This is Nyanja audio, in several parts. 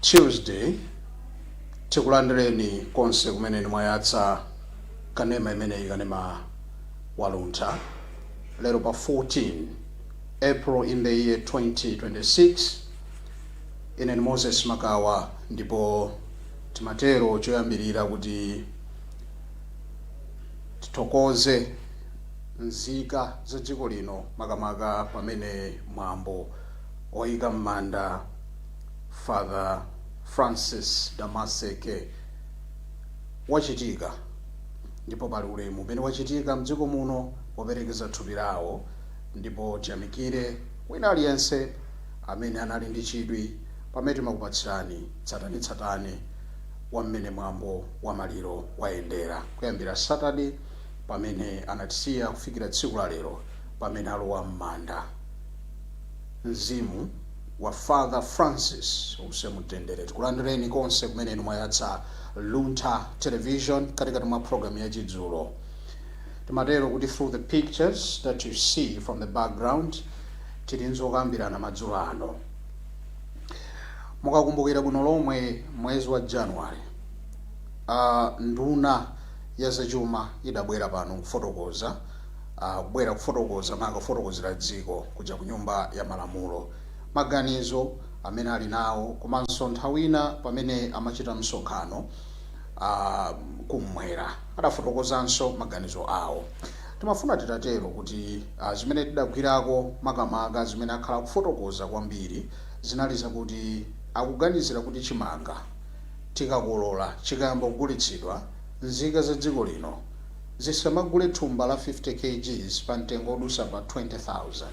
Tuesday Tikulandireni konse kumene inu mwayatsa kanema imeneyi, kanema wa Luntha, lero pa 14 April in the year 2026. Ine ndi Moses Makawa ndipo timatero choyambirira kuti tithokoze nzika za dziko lino makamaka pamene mwambo Oyika mmanda Father Francis Damaseke wachitika ndipo pali ulemu umene wachitika mdziko muno woperekeza thupi lawo ndipo tiyamikire wina aliyense amene anali ndi chidwi pamene timakupatsirani tsatanetsatane wa mmene mwambo wa maliro wayendera kuyambira Saturday pamene anatisiya kufikira tsiku la lero pamene alowa mmanda. Mzimu wa Father Francis uuse mumtendere. Tikulandireni konse kumene inu mwayatsa Luntha Television katikati mwa program ya chidzulo. Timatero kuti through the pictures that you see from the background tili ndi zokambirana madzulo ano. Mukakumbukira bwino lomwe mwezi wa January uh, nduna ya zachuma idabwera pano nkufotokoza Kubwera kufotokoza maka kufotokozera dziko kuja ku nyumba ya malamulo. Maganizo amene ali nawo komanso nthawina pamene amachita msonkhano a kummwera adafotokozanso maganizo awo. Timafuna titatero kuti zimene tidagwirako makamaka zimene akhala kufotokoza kwambiri zinali zakuti akuganizira kuti chimanga tikakolola chikayamba kugulitsidwa nzika za dziko lino Zisamagule thumba la 50 kgs pa mtengo odusa pa 20,000.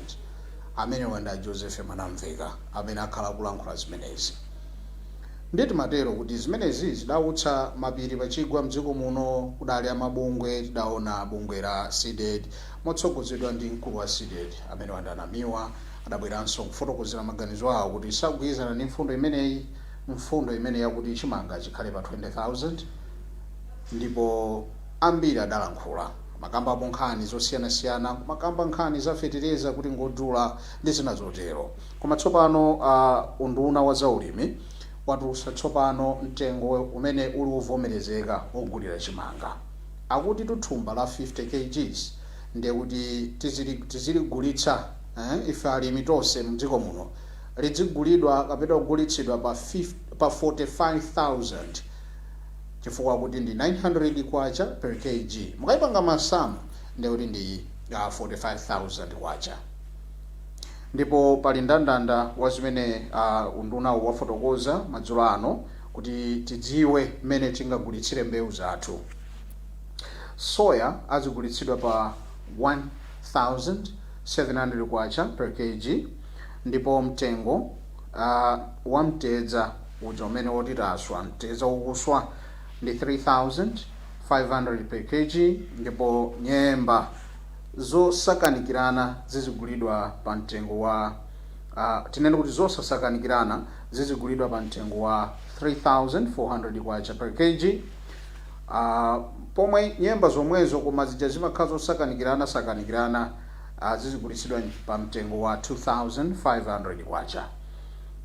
Amenewa ndi a Joseph Mwanamveka amene akhala kulankhula zimenezi. Ndiye timatero kuti zimenezi zidautsa mapiri pa chigwa mdziko muno kudali a mabungwe tidaona bungwe la Cdedi motsogozedwa ndi mkulu wa Cdedi amenewa ndi a Namiwa adabweranso kufotokozera maganizo awo kuti sagwirizana ndi mfundo imeneyi mfundo imeneyi yakuti chimanga chikhale pa 20,000 Ndipo ambiri adalankhula. Amakambapo nkhani zosiyanasiyana, kumakamba nkhani za fetereza kuti ngodula ndi zina zotero. Koma tsopano a unduna wa za ulimi watulutsa tsopano mtengo umene uli wovomerezeka wogulira chimanga. Akutitu thumba la 50 kgs ndiye kuti tizili tiziligulitsa ife alimi tonse mdziko muno lidzigulidwa kapena kugulitsidwa pa 5 pa 45,000. chifukwa kuti ndi K900 per kg mukaipanga masamu ndiye kuti ndi K45,000 ndipo pali ndandanda wa zimene undunawu wafotokoza madzulo ano kuti tidziwe mmene tingagulitsire mbewu zathu. Soya azigulitsidwa pa K1700 per kg ndipo mtengo wa mtedza. Uja umene woti taswa mtedza ukuswa ndi 3500 per kg ndipo nyemba zosakanikirana zizigulidwa pa mtengo wa uh, tinene kuti zosasakanikirana zizigulidwa pa mtengo wa 3400 kwacha per kg uh, pomwe nyemba zomwezo koma zija zimakhala zosakanikirana sakanikirana uh, zizigulitsidwa pa mtengo wa 2500 kwacha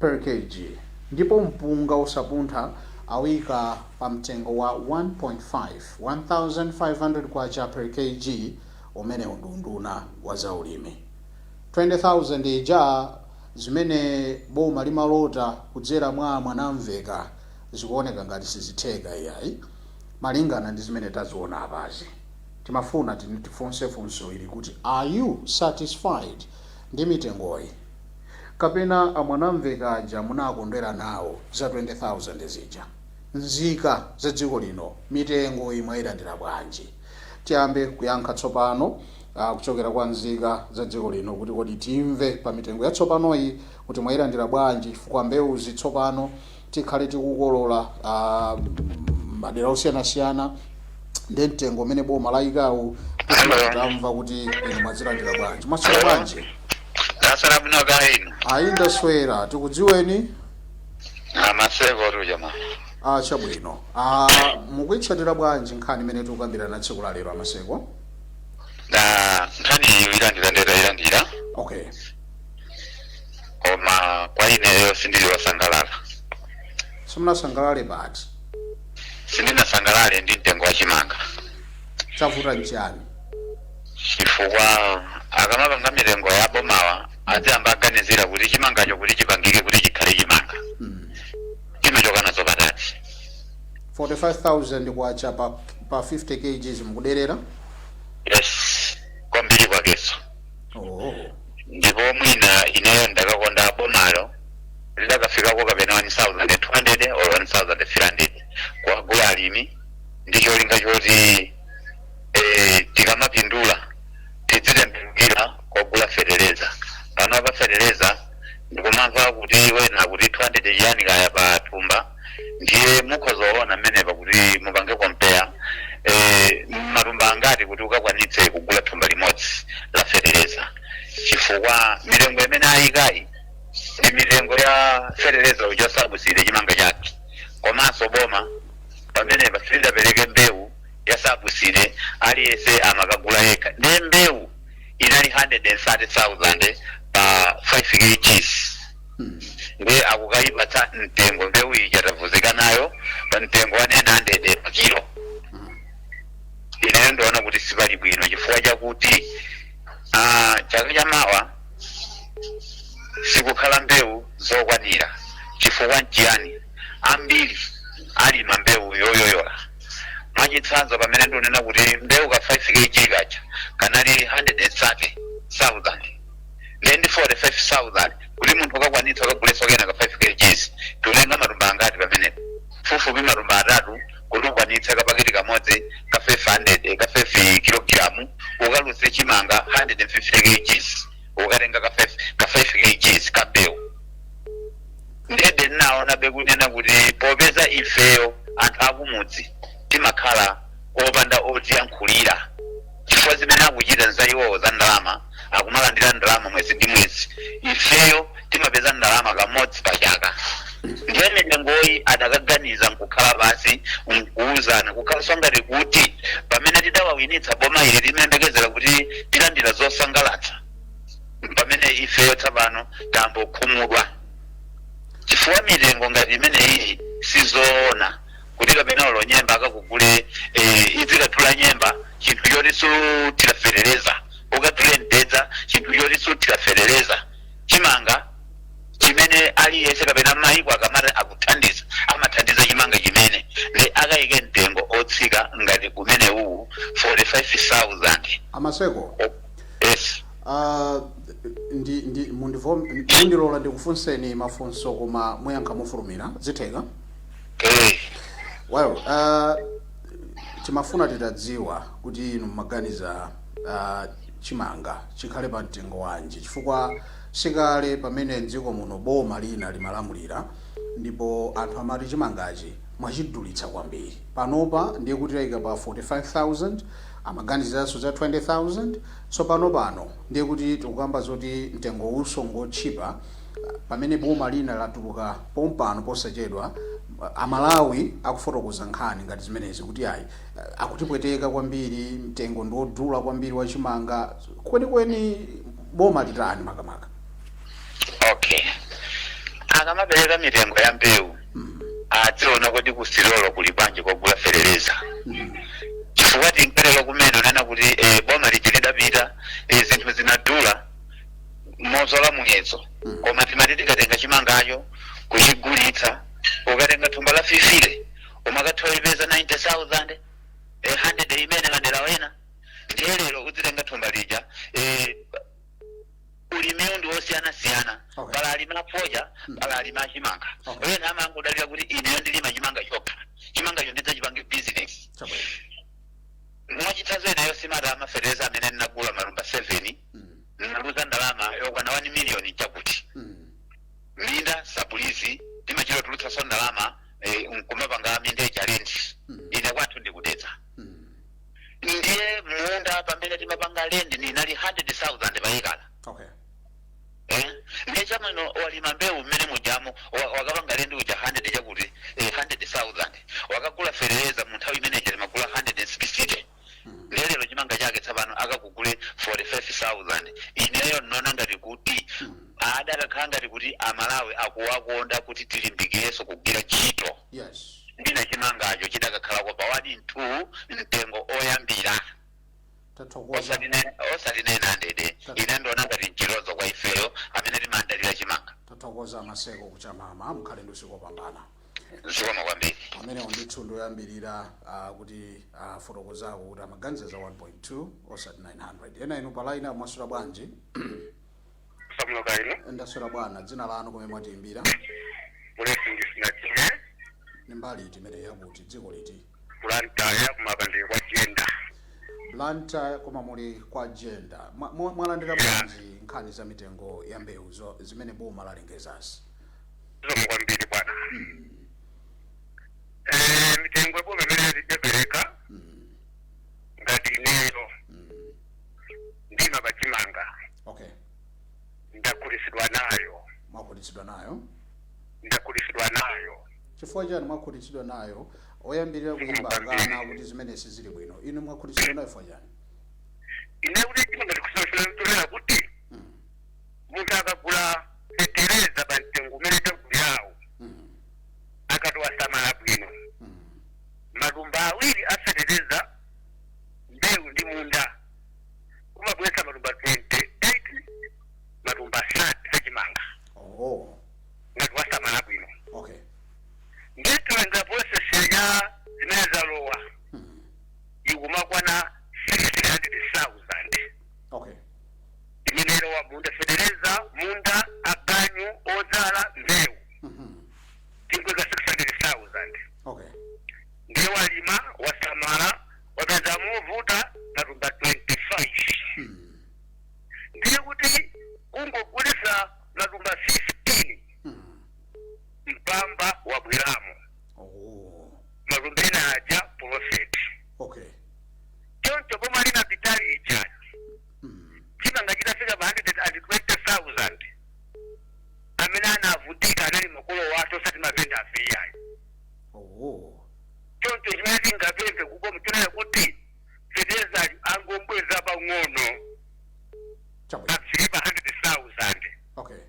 per kg ndipo mpunga wosapuntha awuika pa mtengo wa 1.5, K1500 per kg umenewu ndi unduna wa zaulimi. 20,000 ija zimene boma limalota kudzera mwa a Mwanamveka zikuoneka ngati sizitheka iyayi malingana ndi zimene taziona apazi. Timafuna tifunse funso ili kuti are you satisfied ndi mitengoyi? kapena a Mwanamveka aja munakondwera nawo za 20,000 zija? Nzika za dziko lino mitengoyi mwailandira bwanji? Tiyambe kuyankha tsopano kuchokera kwa nzika za dziko lino kuti kodi timve pa mitengo yatsopanoyi kuti mwailandira bwanji chifukwa mbewuzi tsopano tikhale tikukolola a madera osiyanasiyana ndi mtengo umene boma layikawu tikhala tamva kuti inu mwazilandira bwanji mwaswera bwanji ndaswera bwino kaya inu ndaswera tikudziweni a Maseko tuja mwa a chabwino a mukuitsatira bwanji nkhani imene tikukambirana tsiku la lero a Maseko nda nkhani iyo ilandira ndeta ilandira okay koma kwa ineyo sindili wosangalala simunasangalale pati? sindinasangalale ndi mtengo wa chimanga chavuta nchani chifukwa akamapanga mitengo ya bomawa aziyamba aganizira kuti chimangacho kuti chipangike kuti chikhale chimanga mm. chimachoka nazo patati 45000 kwacha pa, pa 50 kgs mukuderera yes kwambiri kwakeso oh ndipo mwina ineyo ndakakonda bomalo lidakafikako kapena 1200 or 1300 kuwagula alimi ndi cholinga choti eh, tikamapindula tidzitembenukira kogula fetereza pano apa fetereza ndikumamva kuti wena akuti 200 chiyani kaya pa thumba ndiye mukhoza kuona mmenepa kuti mupange compare eh, matumba angati kuti ukakwanitse kugula thumba limodzi la fetereza chifukwa mitengo imene ayikayi ndi mitengo ya fetereza uja sabuside chimanga chake komanso boma pamenepa silidapereke mbewu ya sabuside aliyense amakagula yekha ndiye mbewu inali 130,000 pa 5 kgs ndiye akukayipatsa mtengo mbewu ija tavuzika nayo pa mtengo wa 900 pa kilo ineyo ndiona kuti sipali bwino chifukwa chakuti ah, chaka cha mawa sikukhala mbewu zokwanira chifukwa nchiyani ambiri alima mbewu yoyoyola mwachitsanzo pamene ndinena kuti mbewu ka 5 kg kacha kanali 130,000 ndiye ndi 45000 kuti munthu ukakwanitsa ukagulenso kena ka 5 kgs tulenga matumba angati pamenepo pafupifupi matumba atatu kuti ukwanitse kapaketi kamodzi ka 500 ka 5 kilogramu ukaluze chimanga 150 kgs ukatenga ka 5 ka 5 kgs ka mbewu ndiye ndaonabe kunena kuti popeza ifeyo anthu akumudzi timakhala opanda otiyankhulira chifukwa zimene akuchita nza iwowo za ndalama akumalandira ndalama mwezi ndi mwezi ifeyo timapeza ndalama kamodzi pa chaka ndiye mitengoyi adakaganiza nkukhala pansi nkuuzana kukhalanso ngati kuti pamene tidawawinitsa boma ili timayembekezera kuti tilandira zosangalatsa pamene ifeyo tsapano tambokhumudwa chifukwa mitengo ngati imeneyi sizoona kuti kapena olo nyemba akakugule eh, idzikathula nyemba chinthu choti suthira fetereza ukathule mtedza chinthu choti suthira fetereza chimanga chimene aliyense kapena maiko akamati akuthandiza amathandiza chimanga chimene nde akayike mtengo otsika ngati umene uwu 45000 aMaseko yes ah, ndi ndi mundivom- mundilola ndikufunseni mafunso koma muyankha mofulumira zitheka Eh, well uh, timafuna titadziwa kuti inu mumaganiza uh, chimanga chikhale pa mtengo wanji chifukwa sikale pamene mdziko muno boma lina limalamulira ndipo anthu amati chimangachi mwachidulitsa kwambiri panopa ndiye kuti tayika pa 45000 amaganiziranso za 20000 so pano pano ndiye kuti tikukamba zoti mtengo uwunso ngotchipa Pamene boma lina latuluka pompano posachedwa, a Malawi akufotokoza nkhani ngati zimenezi kuti ayi akutipweteka kwambiri, mtengo ndi wodula kwambiri wa chimanga. Kwenikweni boma litani makamaka? Okay. Akamapereka mitengo ya mbewu adziona kuti kusitolo kuli bwanji kogula fetereza chifukwa tingatero kumene kunena kuti eh, boma lija lidapita eh, zinthu zinadula mopyola muyezo Mm. koma timati tikatenga chimangacho kuchigulitsa ukatenga thumba la fifite umakatha kuipeza 90000 eh, 100 imene madera wena ndiye lero udzitenga thumba lija eh, ulimiwu ndi wosiyanasiyana Okay. pali alimi afodya Mm. pali alimi achimanga Okay. wena amangodalira kuti ineyo ndilima chimanga chokha chimangacho ndidzachipange bizinesi chabwino mwachitsanzo ineyo matumba afetereza amene ndinagula matumba 7 ndinaluza ndalama yokwana 1 miliyoni chakuti Mm. minda sapuleyizi timachita kutulutsanso ndalama eh, nkumapanga minda ija lendi Mm. ine kwathu ndi ku Dedza Mm. ndiye munda pamene timapanga lendi inali 100000 payekala Okay. eh? ndiye chabwino walima mbewu mmene mujamo wa- wakapanga lendi uja 100 chakuti eh, 100000 wakagula fetereza mu nthawi imene ija timagula 160 Mm. ndiye lero chimanga chake tsapano akakugule 45000 ineyo ndinaona ngati kuti Mm. ada akakhala ngati kuti amalawi akuwakonda kuti tilimbikirenso kugwira ntchito yes mwina chimangacho chidakakhalako pa wani thu mtengo oyambira tathokoza osati ne- osati naini handede ine ndiona ngati mchitonzo kwa ifeyo amene timadalira chimanga tathokoza a Maseko ku Chamama mukhale ndi usiku wopambana zikomo kwambiri amenewo ndithu ndi oyambirira ah, kutifotokozerako kuti amaganiza za 1.2 osati 900 ena inu palaini mwaswera bwanji Samuel Loka ino ndaswera bwana dzina lanu komwe mwatiimbira Blessings Chimwe ni mbali iti imene yakuti dziko liti Blantyre koma pano ndili kwa Jenda Blantyre koma muli kwa Jenda Mwa- mwa- mwalandira Yeah. bwanji nkhani za mitengo ya mbewu zo- zimene boma lalengezazi zikomo kwambiri bwana Eh, mitengo ya boma imene latiperekera ngati ineyo ndimapanga chimanga okay ndakhutitsidwa nayo mwakhutitsidwa nayo ndakhutitsidwa nayo Chifukwa chani mwakhutitsidwa nayo? Oyambirira kuyimba akana akuti zimene sizili bwino. Inu mwakhutitsidwa nayo chifukwa chani? Ine kuti chimanga tikusoshera mtolera kuti munthu akagula fetereza pa mtengo umene tagulirawo akati wasamala bwino matumba awiri a fetereza mbewu ndi munda kumabweretsa matumba 28 matumba 30 achimanga. Oh. ngati wasamala bwino okay ndiye tilandira process ya zimene zalowa ikumakwana 600000 okay imene ilowa munda fetereza munda aganyu odzala mbewu tingoika 600000 okay ndiye walima wasamala wapeza movuta matumba 25 ndiye kuti kungogulisa matumba 16 mpamba wabweramo Oh. matumba ena aja profit Okay. choncho pomwe ali na pitali ichani Mm. chimanga chitafika pa 120,000 amene anavutika anali makolo wathu osati mavendafe iyayi Oh. choncho chimene tingapemphe ku boma nchonena kuti feterezayu angombweza pang'ono chabwino afike pa 100,000 okay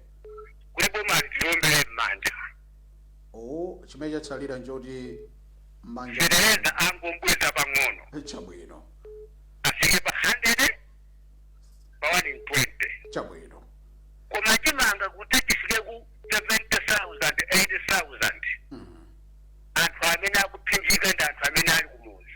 kuti bomali tiliombere m'manja o chimene chatsalira nchoti manja fetereza angombweza pang'ono chabwino afike pa 100 pa 120 chabwino koma chimanga kuti chifike ku 70,000 80,000 Mhm. anthu amene akuphinjika ndi anthu amene ali kumuzi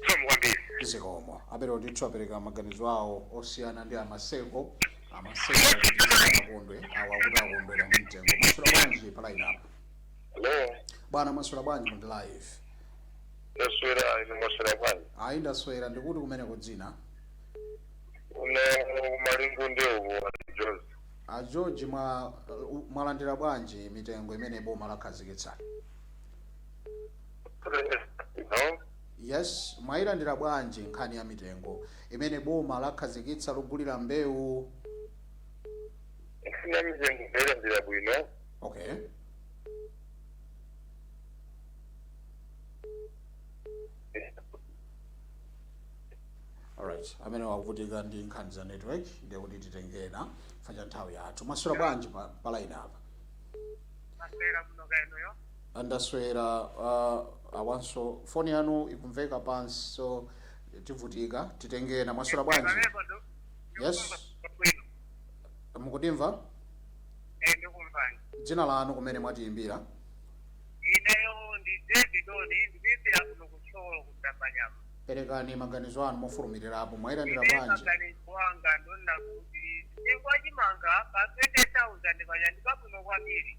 zikomo kwambiri zikomo a Belo ndithu apereka maganizo awo osiyana ndi a Maseko a Maseko akondwe awo akuti akondwera ndi mtengo mwaswera bwanji pa line apa hello bwana mwaswera bwanji muli live ndaswera ine mwaswera bwanji ayi ndaswera ndi kuti kumeneko dzina kuno Malingunde George a george mwa- mwalandira bwanji mitengo imene boma lakhazikitsa No. yes mwayilandira bwanji nkhani ya mitengo imene boma lakhazikitsa logulira mbewu Nkhani ya mitengo ndailandira bwino. okay alright amenewa akuvutika ndi nkhani za network ndiye kuti titengena facha nthawi yathu mwaswera bwanji pa, pa line apa Ndaswera kuno kaya inuyo. Ndaswera uh, awanso foni yanu ikumveka pansi so tivutika titenge ena mwaswera bwanji Pamenepo ndo- Yes. ndikukumva bwino. mukutimva Eh, ndikumvani. dzina lanu kumene mwatiyimbira Ineyo ndi David Doni, ndikuimbira kuno ku Thyolo ku Dzambanyama. perekani maganizo anu mofulumirirapo mwayilandira bwanji Ine maganizo anga ndonena kuti mtengo wa chimanga pa 20,000 paja ndi pabwino kwambiri.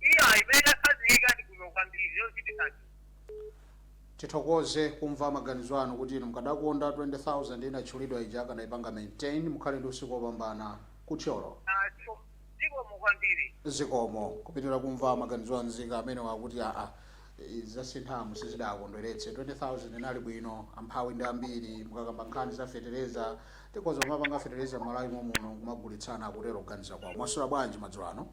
Iyayi, imene akhazikitsa ndi bwino kwambiri, yochititsa chidwi. Tithokoze kumva maganizo anu kuti inu mukadakonda 20,000 inatchulidwa ija akanaipanga maintain. Mukhale ndi usiku opambana. Ku Thyolo. Ah, ziko- zikomo kwambiri. Zikomo. Kupitira kumva maganizo a nzika amenewa akuti aa izi zasinthamu sizidawakondweretse. 20,000 inali bwino. Amphawi ndi ambiri. Mukakamba nkhani za fetereza, tikhoza kumapanga fetereza m'Malawi momuno nkumagulitsana, akutero kuganiza kwawo. Mwaswera bwanji madzulo ano?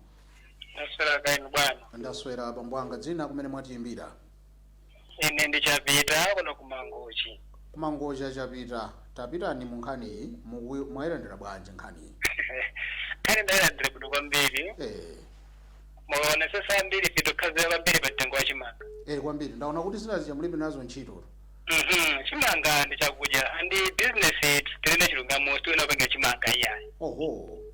Ndaswera kaya inu bwana. ndaswera abambo anga dzina kumene mwatiyimbira Ine ndi chapita kuno ku Mangochi. kumangochi chapita tapitani mu nkhaniyi muku- mwayilandira bwanji nkhaniyi Nkhani ndayilandira bwino kwambiri. eh, Mukaonetsetsa ambiri tikukhazikira kwambiri pa mtengo wa chimanga. eh, kwambiri ndaona kuti zinazi mulibe nazo ntchito Mhm, chimanga ndi chakudya and business it tinene chilungamo tiwena kupanga chimanga iyayi. oho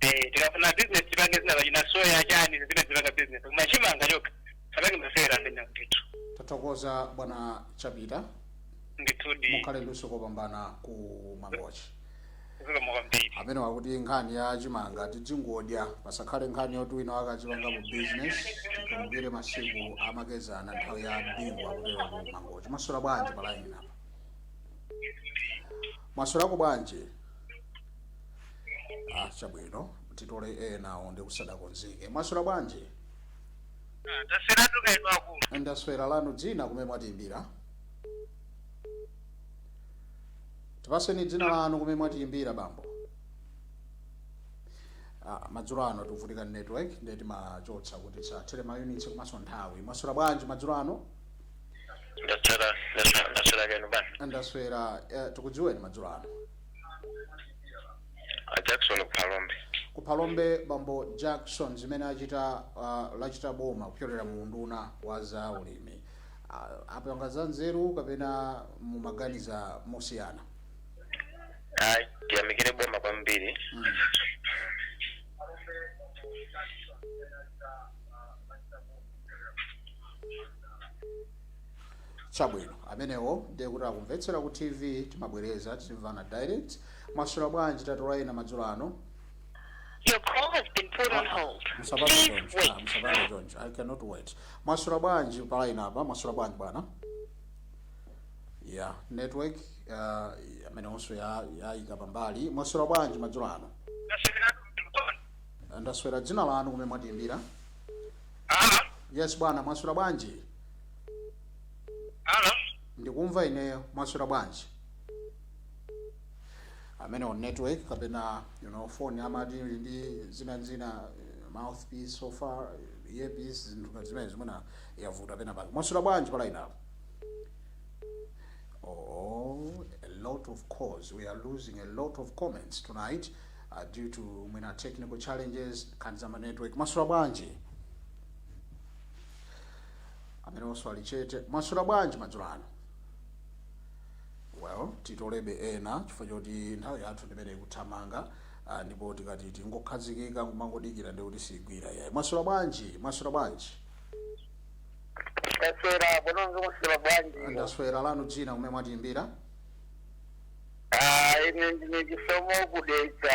Eh, tikafuna business tipange zina pajatina soya chani zimene tipanga business koma chimanga chokha asapange masewera amenewa ndithu tathokoza bwana chapita ndithudi mukhale ndi usiku wopambana ku mangochi zikomo kwambiri amenewa akuti nkhani ya chimanga tidzingodya pasakhale nkhani yoti wina akachipanga mu business tikumbukire masiku amakezana nthawi ya bingu akutero ku mangochi mwaswera bwanji palaini apa mwaswera bwanji ah chabwino titole enawo ndikuti sadakonzeke mwaswera bwanji Ah, taswera tu kaya inu akulu ndaswera lanu dzina kumene mwatiyimbira tipaseni dzina lanu kumene mwatiyimbira bambo ah, madzulo ano tikuvutika ndi network ndiye timachotsa kuti tisathere mayunitsi komanso nthawi mwaswera bwanji madzulo ano ndaswera ndaswera kaya inu bwana ndaswera eh, tikudziweni madzulo ano a jackson ku phalombe ku phalombe bambo jackson zimene achita uh, lachita boma kupyolera mu unduna wa za ulimi uh, apanga za nzeru kapena mumaganiza mosiyana ayi tiyamikire boma kwambiri mm. Chabwino, amenewo ndiye kuti akumvetsera ku TV, timabwereza timvana direct. Mwaswera bwanji titole ena madzulo ano? Your call has been put on hold. Musabata Please choncho, ah, wait. musabata choncho. I cannot wait. Mwaswera bwanji pa line apa? Mwaswera bwanji bwana? Yeah, network uh, amenewonso yayika pambali. Mwaswera bwanji madzulo ano? Ndaswera dzina lanu kumene mwatiimbira. Yes bwana, mwaswera bwanji? Halo? ndikumva ineyo mwaswera bwanji amenewo network kapena you know phone amati ili ndi zina zina eh, mouthpiece and so forth eh, earpiece zinthu ngati zimenezo mwina yavuta pena pake mwaswera bwanji pa line apo Oh, a lot of calls. We are losing a lot of comments tonight uh, due to mwina technical challenges, nkhani za ma network. Mwaswera bwanji? amenewonso ali chete mwaswera bwanji madzulo ano well titolebe ena chifukwa choti nthawi yathu ndimene ikuthamanga ah, ndipo tikati tingokhazikika kumangodikira ndiye kuti sigwira iyayi mwaswera bwanji mwaswera bwanji ndaswera bwananga mwaswera bwanji ndaswera lanu dzina kumene mwatiyimbira Ah, ine ndine Chisomo ku Dedza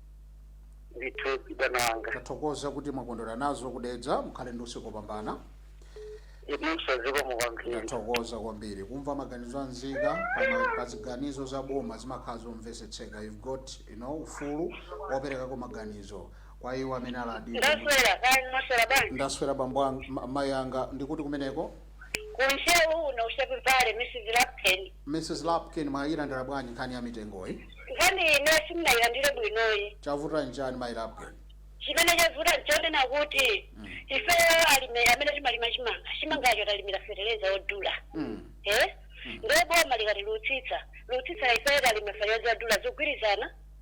ndithu bwananga tathokoza kuti mwakondwera nazo ku Dedza mukhale ndi usiku wopambana inunso zikomo kwambiri tathokoza kwambiri kumva maganizo a nzika pama- pa ziganizo za boma zimakhala zomvesetseka you've got you know, ufulu woperekako maganizo kwa iwo amene aladira ndaswera kani mwaswera bwanji ndaswera bambo anga- ma- mayi anga ndi kuti kumeneko Ku Ntcheu uno ku Sharpevale, Mrs. Lapken. Mrs. Lapken, mwayilandira bwanji nkhani ya mitengoyi? Nkhaniyi ineyo sindinayilandire bwinoyi. Chavuta nchani mayi Lapken? Chimene chavuta nchonena kuti Mm. ifeyo alimi amene timalima chimanga, chimangacho talimira fetereza odula. Mm. Eh? Mm. Ndiye boma likati litsitsa, litsitsa ifeyo talimira fetereza odula sizikugwirizana.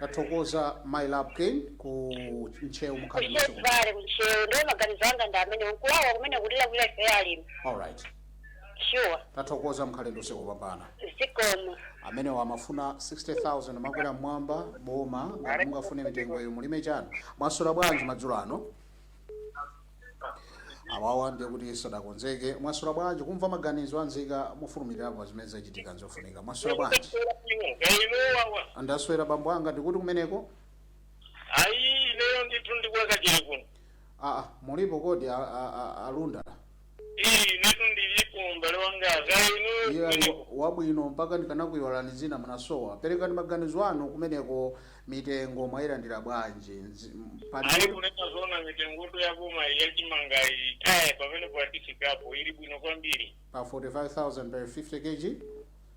tathokoza mayi lapken ku ntcheu mukhale ku Sharpevale ku Ntcheu ndiye maganizo anga ndi amene nkulawa kumene kulira kulira ife alimi alright sure tathokoza mukhale ndi usiku wopambana zikomo amenewo amafuna 60000 makwerera mmwamba boma ngati mungafune mitengoyo mulime chanu mwaswera bwanji madzulo ano awawa ndiye kuti sadakonzeke mwaswera bwanji kumva maganizo a nzika mofulumirirapo pa zimene zachitika nzofunika mwaswera bwanji ainuwawa ndaswera bambo anga ndi kuti kumeneko ayi ineyo ndithu ndikulaka chili kuno aa mulipo kodi a- a- a- a Lunda eee inetu ndilipo mbale wanga kaya inuyo ine ndili wabwino mpaka ndikanakuyiwalani dzina munasowa perekani maganizo anu kumeneko mitengo mwayilandira bwanji Nzi- m- pali- ali kunena zoona mitengo ya boma ya chimangayi eh pamene pakufikapo ili bwino kwambiri pa 45000 per 50 kg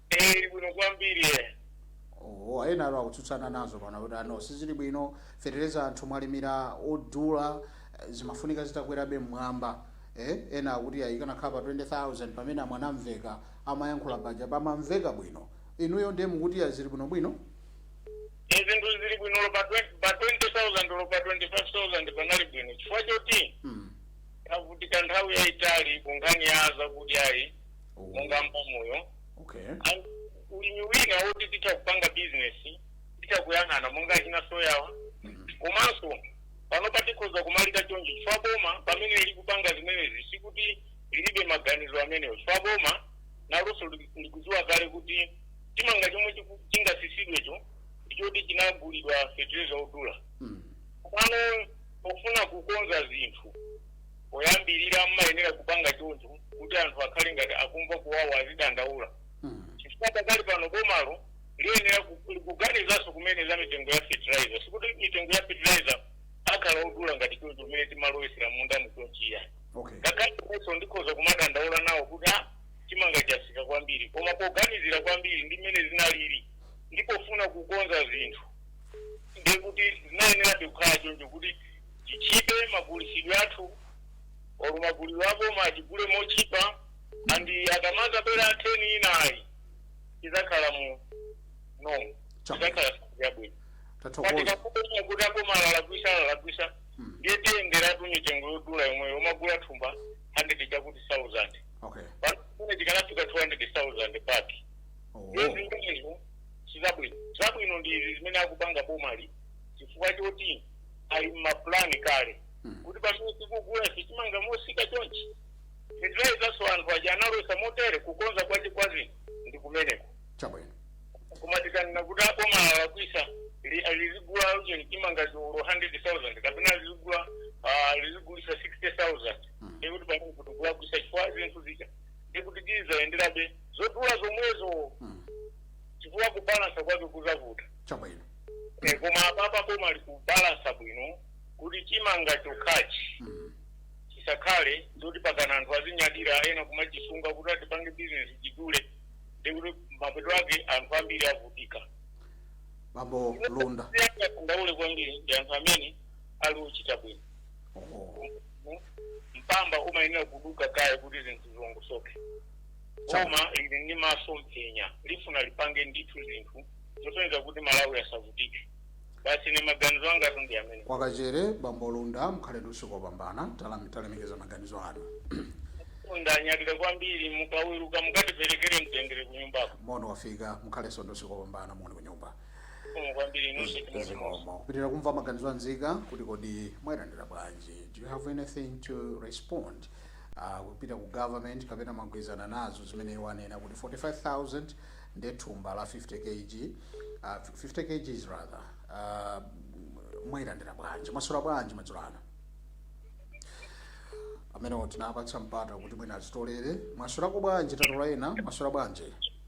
eh ili bwino kwambiri eh oh, ena atu akutsutsana nazo pano kuti ano sizili bwino fetereza anthu mwalimira odula eh, zimafunika zitakwerabe mmwamba eh? ena akuti ayi kanakhala pa 20000 pamene a Mwanamvekha amayankhula paja pamamveka bwino inuyo ndiye mukuti azili bwinobwino e zinthu zili bwino olo pa 20 pa 20000 olo pa 25000 panali bwino chifukwa choti Mm. tavutika nthawi yayitali ku nkhani ya zakudyayi Oh, monga mbamuyo okay. And ulimi wina woti titha kupanga bizinesi titha kuyang'ana monga achina soyawa Mm. komanso pano patikhoza kumalira chonchi chifukwa boma pamene likupanga zimenezi sikuti lilibe maganizo amenewo chifukwa boma nalonso likudziwa kale kuti chimanga chomwe chiku- chingasisidwecho ndichoti chinagulidwa fertilizer odula Mm. pano pofuna kukonza zinthu poyambirira amayenera kupanga choncho kuti anthu akhale ngati akumva kuwawa azidandaula Mm. chifukwa pakali pano bomalo liyenera ku- kuganizanso kumene za mitengo ya fertilizer sikuti mitengo ya fertilizer akhala odula ngati choncho kumene timalowesera m'munda muchonchiya okay ngakhale ndiponso ndikhoza kumadandaula nawo kuti a Chimanga chasika kwambiri, koma poganizira kwambiri ndi mmene zinalili ndi pofuna kukonza zinthu, ndiye kuti zinayenerabe kukhala choncho kuti chitchipe magulitsidwe athu olo magulidwe a boma achigule motchipa and tikamazabwera season inayi izakhala mu normal Chapa. izakhala yabwino tathokoza koma tikanena kuti aboma alakwisa alakwisa ndiye tiyenderabe mitengo yodula yomweyo kumagula thumba 100 chakuti 1000 okay pano tikanafika 200,000 pake oh. ndiye zimenezo sizabwino zabwino ndi izi zimene akupanga bomali chifukwa choti ali mmapulani kale Mm. kuti pamene tikugula chimanga mosika chonchi fertilizernso anthu aja analowesa motere kukonza kwake kwa zinthu ndi kumeneko chabwino koma tikanena kuti aboma alakwisa li- lizigula ujeni chimanga cho olo 100000 kapena lizigula ah, lizigulisa 60000 ndiye kuti pamenepo tikulakwisa chifukwa zinthu zija ndiye kuti zizayenderabe zodula zomwezo Mm. chifukwa kubalansa kwake kuzavuta chabwino Eh, koma apapa boma likubalansa bwino kuti chimanga chokhachi Mm. chisakhale zoti mpakana anthu azinyadira ena kumachisunga kuti atipange bizinesi chidule ndikuti mapeto ake anthu ambiri avutika bambo lunda si angadandaule kwambiri ndi anthu amene ali ochita bwino oh. zinthu mwamba umayenera kuduka kaye kuti zinthu zilongosoke boma lili ndi masomphenya likufuna lipange ndithu zinthu zosonyeza kuti malawi asavutike basi ndi maganizo angatu ndi amenewa kwakachere bambo lunda mukhale ndi usiku wopambana talemekeza maganizo anu ndanyadira kwambiri mukaweruka mukatiperekere mtendere kunyumbako moni wafika mukhalenso ndi usiku wopambana moni kunyumba Umu kwambiri inunso chimodzimodzi. zikomo kupitira kumva maganizo a nzika kuti kodi mwayilandira bwanji do you have anything to respond uh, kupita ku government kapena mwagwirizana nazo zimene iwo anena kuti 45000 nde thumba la 50 kg uh, 50 kgs rather uh, mwayilandira bwanji mwaswera bwanji madzulo ano amene tinapatsa mpata kuti mwina azitolere mwaswerako bwanji tatola ena mwaswera bwanji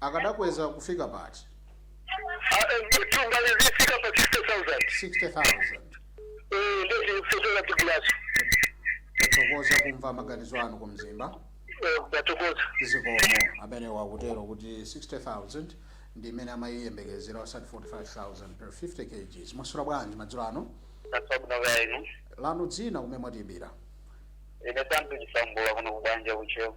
akadakweza kufika pati mtunga lizifika pa 60000 60000 Eh, ndio zilifika thank you tathokoza kumva maganizo anu ku mzimba ndathokoza zikomo amenewo akutero kuti 60000 ndi imene amayiyembekezera osati 45000 per 50 kgs mwaswera bwanji madzulo ano tatsabola wayilesi lanu dzina kumene mwatiyimbira ine tantu chisambula kuno kubanja kucheo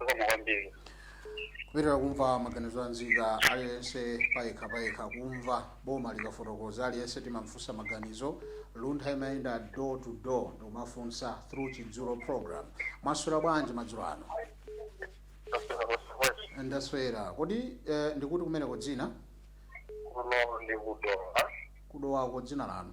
zikomo kwambiri kupitira kumva maganizo a nzika aliyense payekha payekha kumva boma likafotokoza aliyense timamfunsa maganizo luntha imayenda door to door ndikumafunsa through chidzulo program mwaswera bwanji madzulo ano ndaswera kwesibwezi ndaswera kodi eh, ndikuti kumeneko dzina kuno ndi kudowa kudowako dzina lanu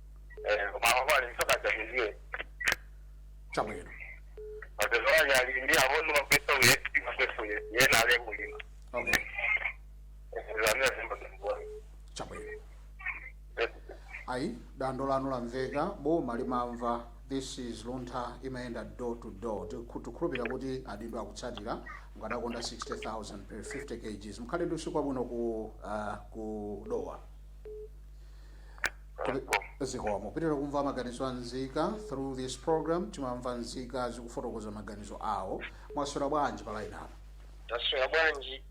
Eh, koma apo ali msoka chamizie. chabwino Matezo aja ali ndi abono mapeso uye, mapeso uye. Ye na ale kulima. okay Zamia zimba zimbuwa. chabwino ayi dandaulo lanu lamveka boma limamva this is luntha imayenda door to door Tikhu- tikhulupirira kuti adindo akutsatira mukadakonda 60000 per 50 kgs mukhale ndi usiku wabwino ku uh, ku dowa zikomo pitira kumva maganizo a nzika through this program timamva nzika zikufotokoza maganizo awo mwaswera bwanji pa line apa taswera bwanji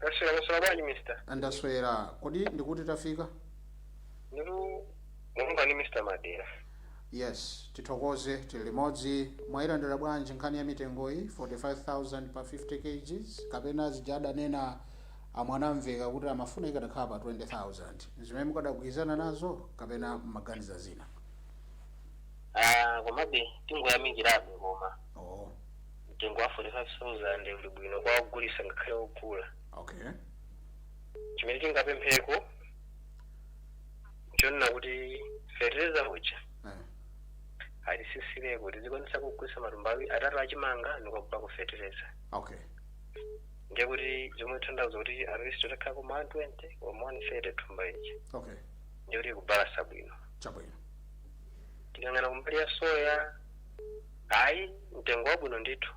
taswera mwaswera bwanji mister ndaswera kodi ndikuti tafika ndiru mulungu ni mr madera yes tithokoze tili limodzi mwayilandira bwanji nkhani ya mitengoyi 45000 pa 50 kgs kapena zija adanena a Mwanamveka kuti amafuna ikadakhala pa 20,000. Nzimene mukadagwirizana nazo kapena mumaganiza zina? Aaa komabe tingoyamikirabe koma Oh, mtengo wa 45,000 uli bwino kwa ogulisa ngakhale ogula. okay. Chimene tingapempheko chonena kuti fertilizer uja Eh, atisisireko tizikwanisa kugulisa matumba atatu achimanga ndikukagulako fertilizer. okay. ndiye kuti zomwe zikutanthauza kuti at least utakhala ku 120 or 130 thumba ichi okay ndiye kuti kubalasa bwino chabwino tikayang'ana kumbali ya soya ayi mtengo wabwino ndithu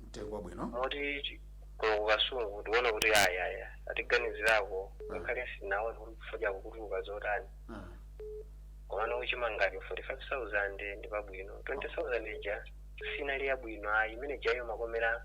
mtengo wabwino moti kuno kukasungu tiona kuti ayi atiganizirako ngakhale sitinaone kuti kufodya kukutuluka zotani Ah, komano kuchimangachi 45000 ndi pabwino 20000 ija sinali yabwino ayi imene ijayo imakomera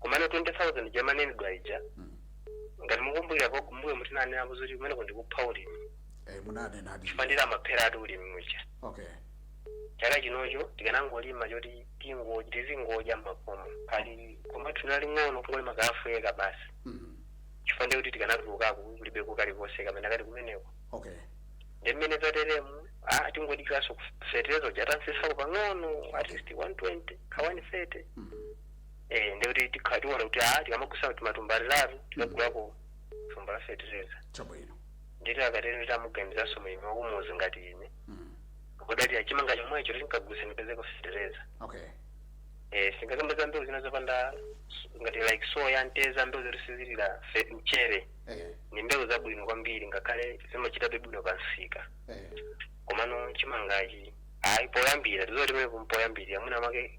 komano 20000 ija imanenedwa ija ngati mukumbukira apo kumbuyo mu tinanena kuti kumeneku ndikupha ulimi eh, munanenadi chifukwa ndiye amapheradi ulimi muja okay chaka chinocho tikanangolima choti tingo- tizingodya makomo ali koma osalinga kungolima kaafuyeka basi mm. chifukwa ndiye kuti tikanatulukako kulibeko kalikonse kapena kali kumeneko okay ndi mmene zateremu ah, tingodikiraso fetereza uja atatsitsapo pang'ono at least 120 ka 130 mm. eh ndiye kuti tikhala tiona kuti ah tikamagulisa timatumba titatu tikagulako thumba la fertilizer chabwino ndiye kuti akatero ndiye kuti amuganizanso mlimi wakumuzi ngati ine mm. kuti atachita chimanga chomwecho tinkagulisa ndipezeko fertilizer okay eh sitingakambe za mbewu zina zopanda ngati ndi soya mtedza mbewu zoti sizilira fe- mchere eh, ndi mbewu zabwino kwambiri ngakhale zimachitabe bwino pa msika eh. komano chimangachi ayi poyambira tizotimene kumpoyambirira mwina mwake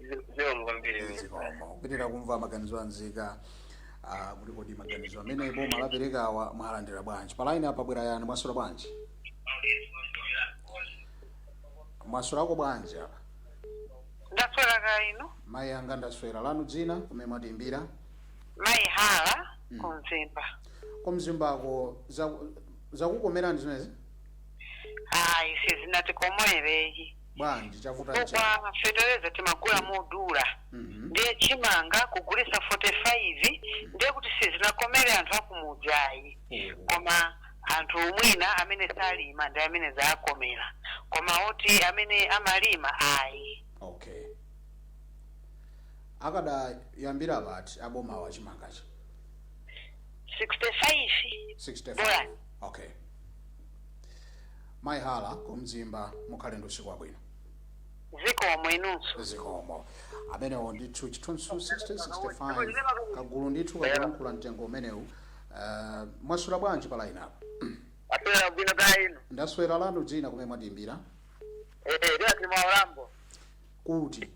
zikomo kwambiri zikomo tikupitiriza kumva maganizo a nzika ah, kuti kodi maganizo amene boma laperekawa mwalandira bwanji pa line yapa pabwera ena mwaswera bwanji mwaswerako bwanji apa ndaswera kaya inu mayi anga ndaswera lanu dzina kumene mwatiimbira mayi Hara Mm. ku Mzimba ku Mzimbako zakukomerani zimenezi ayi sizinatikomere ayi bwanji chavuta nchani chifukwa fetereza timagula modula Mhm. ndiye chimanga kugulisa 45 ndiye kuti sizinakomere anthu akumudzi ayi Oh. koma anthu mwina amene salima ndi amene zaakomera koma oti amene amalima ayi okay akadayambira pati abomawa chimangachi 65 65 Bora. okay Mai Hara ku Mzimba mukhale ndi usiku wabwino. Zikomo, inunso. Zikomo. Amenewo ndithu chithunzi 1665 kagulu ndithu kakulankhula mtengo umenewu. Uh, mwaswera bwanji pa line apa? Taswera bwino kaya inu. Ndaswera lanu dzina kumene mwatiimbira? Eh, eh, lero tili mwa Olambo. Kuti?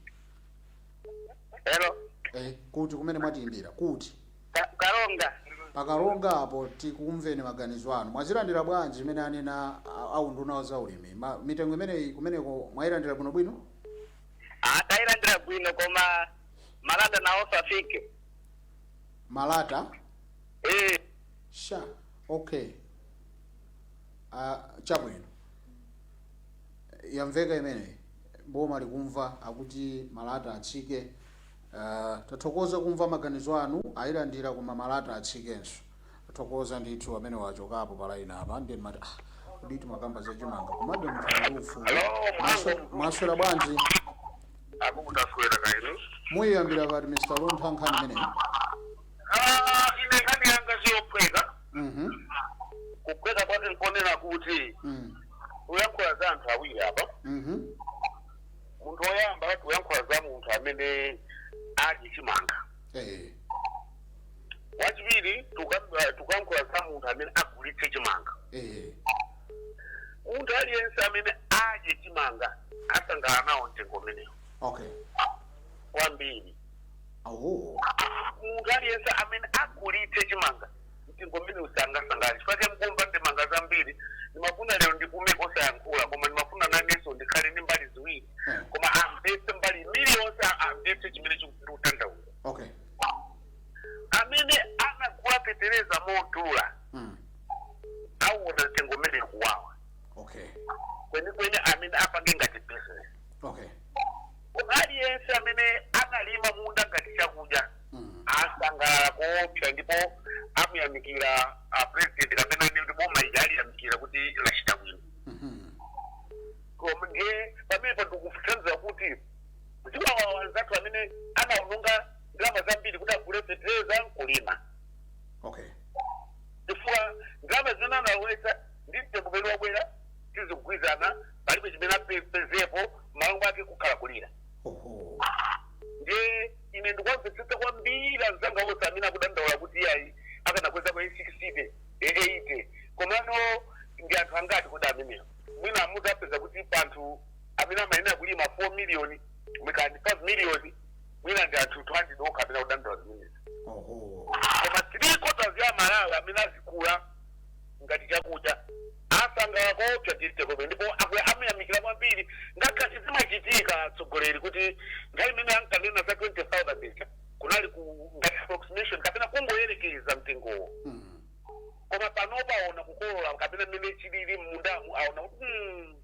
Hello. Eh, kuti kumene mwatiimbira? Kuti? Ka- karonga pakaronga apo tikumveni maganizo anu mwazilandira bwanji zimene anena a- aunduna wa zaulimi Ma- mitengo imeneyi kumeneko mwayilandira bwinobwino ah tayilandira bwino koma malata nawonso atsike malata Eh, sha okay uh, chabwino yamveka imeneyi boma likumva akuti malata atsike Tathokoza kumva maganizo anu ayilandira koma malata atsikenso tathokoza ndithu amenewo achokapo pa line apa ndiye ndimati ah kodi timakamba za chimanga komabe munthu ali ndi ufulu Mwaso- mwaswera bwanji akuku taswera kaya inu muyiyambira pati mr luntha nkhani imeneyi ine nkhani yanga siyophweka Mhm. kuphweka kwake nkonena kuti Mm. tikuyankhula za anthu awiri apa Mhm. munthu woyamba tikuyankhula za munthu amene adye chimanga Eh, wachiwiri tiku- tikuyankhula za munthu amene agulitse chimanga eh, munthu aliyense amene adye chimanga asangalala nawo mtengo umenewo okay kwambiri oh munthu aliyense amene agulitse chimanga mtengo umenewu sangasangalale chifukwa chake mukumva ndemanga zambiri ndimafuna lero ndipume kosayankhula koma ndimafuna nanenso ndikhale ndi mbali ziwiri koma amvetse mbali iliyonse amvetse chimene chikutanthauza okay amene anagula fetereza modula mm. awona mtengo umenewu kuwawa okay kwenikweni amene apange ngati business okay koma aliyense amene analima munda ngati chakudya asangalala koopsa ndipo amuyamikira a president kapena ndi kuti boma lija aliyamikira kuti lachita bwino koma ndiye pamenepo ndikutsanzira kuti ziwawa anzathu amene anaononga ndalama zambiri kuti agule fetereza nkulima okay chifukwa ndalama zimene analowetsa ndi mtengo umene wabwera sizikugwirizana palibe chimene apezepo malo mwake kukhala kulira oho ndiye ine ndikuwamvetsetsa kwambiri anzanga onse amene akudandaula kuti iyayi akanakweza kwa 60 80 komano ndi anthu angati kodi amenewo mwina muzapeza kuti panthu amene amayenera kulima 4 miliyoni mwina 5 miliyoni mwina ndi anthu 200 okha amene akudandaula zimenezi oho koma three quarters ya aMalawi amene azigula ngati chakudya asangalala koopsa Chitekope ndipo aku- amuyamikira kwambiri ngakhale zimachitika atsogoleri kuti nthawi imene ankanena za 20000 ija kunali ku ngati approximation kapena kungoyerekeza mtengowo Mm. koma panopa aona kukolola kapena mmene chilili mmundamu aona kuti "Hmm,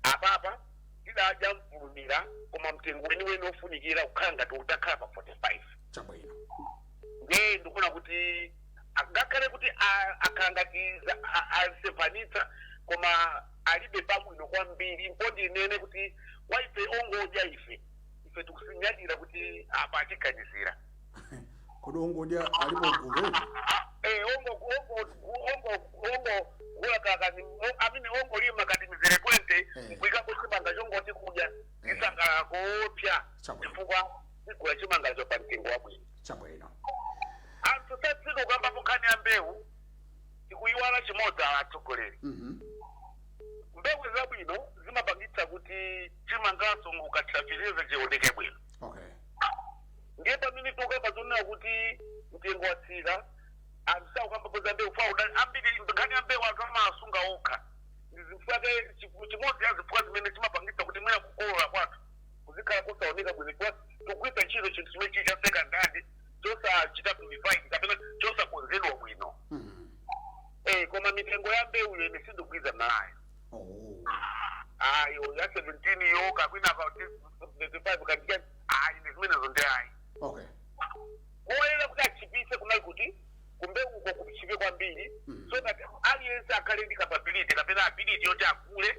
apapa tidadya mfulumira koma mtengo weniweni ofunikira kukhala ngati utakhala pa 45 chabwino ndiye ndikuona kuti ngakhale kuti a- akhala ngati za- a- asemphanitsa koma alibe pabwino kwambiri mpo ndinene kuti kwa ife ongodya ife ife tikuzinyadira kuti apa atiganizira kodi ongodya alipo gulu Eh, ongo ongo ongo ongogula kakati amene ongolima kati mizere 20 Eh. kuikapo chimanga chongoti kudya Eh. tisangalala koopsa Chabwino. chifukwa tigula chimangacho pa mtengo wabwino chabwino anthu satsika kukambapo nkhani ya mbewu tikuyiwala chimodzi apa atsogoleri Mhm. mbewu zabwino zimapangitsa kuti chimanganso ukathira feteleza chioneke bwino okay ndiye pamene tikukamba zonena kuti mtengo watsika anthu sakukambapo za mbewu fa udani ambiri nkhani ya mbewu anthu amasunga okha ndi zifukwa zake chimodzi ya zifukwa zimene chimapangitsa kuti mwina kukolola kwathu kuzikhala kosaoneka bwino chifukwa tikugwiritsa ntchito chinthu chimene chili cha second hand chosachita purified kapena chosakonzedwa bwino Mm. eh, koma mitengo ya mbewuyo ine sindikugwirizana nayo Oh. ayo ya 17 yo kapena pa 25 katika ine zimenezo ndi ayi Okay. koyenera kuti atchipitse kunali kuti kumbewuko kutchipe kwambiri Mm. so that aliyense akhale ndi capability kapena ability yoti agule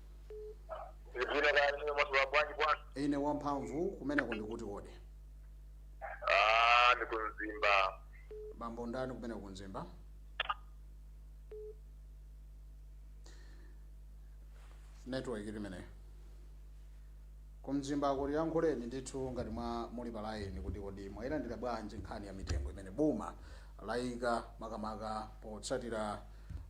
Ndili bwino kaya inu mwaswera bwanji bwana. ine wamphamvu kumeneko ndikuti kodi Ah, ndi ku Mzimba. bambo ndani kumeneko ku Mzimba network imeneyo ku Mzimba kuti yankhuleni ndithu ngati mwa muli pa layini kuti kodi mwayilandira bwanji nkhani ya mitengo imene boma layika makamaka potsatira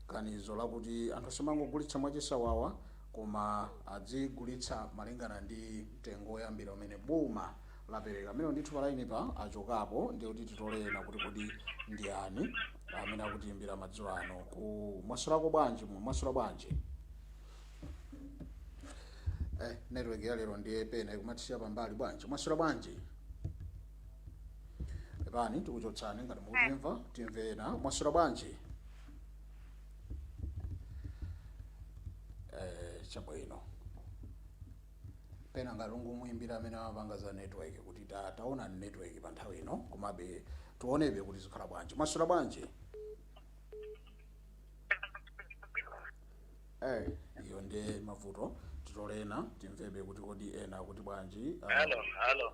Ganizo lakuti anthu asamangogulitsa mwachisawawa koma adzigulitsa malingana ndi mtengo woyambira umene boma lapereka. Amenewo ndithu palainipa achokapo ndiye kuti titole ena kuti kodi ndiyani amene akutiimbira madzulo ano ku mwaswerako bwanji mu mwaswera bwanji eh, network ya lero ndiye pena ikumatisiya pambali bwanji mwaswera bwanji pepani tikuchotsani ngati mukutimva timve ena mwaswera bwanji eh, chabwino pena ngati tingomuimbira amene amapanga za network kuti ta- taona ni network pa nthawi ino komabe tionebe kuti zikhala bwanji mwaswera bwanji eh, iyo ndi mavuto titole ena timvebe kuti kodi ena akuti bwanji ah, Hello, hello.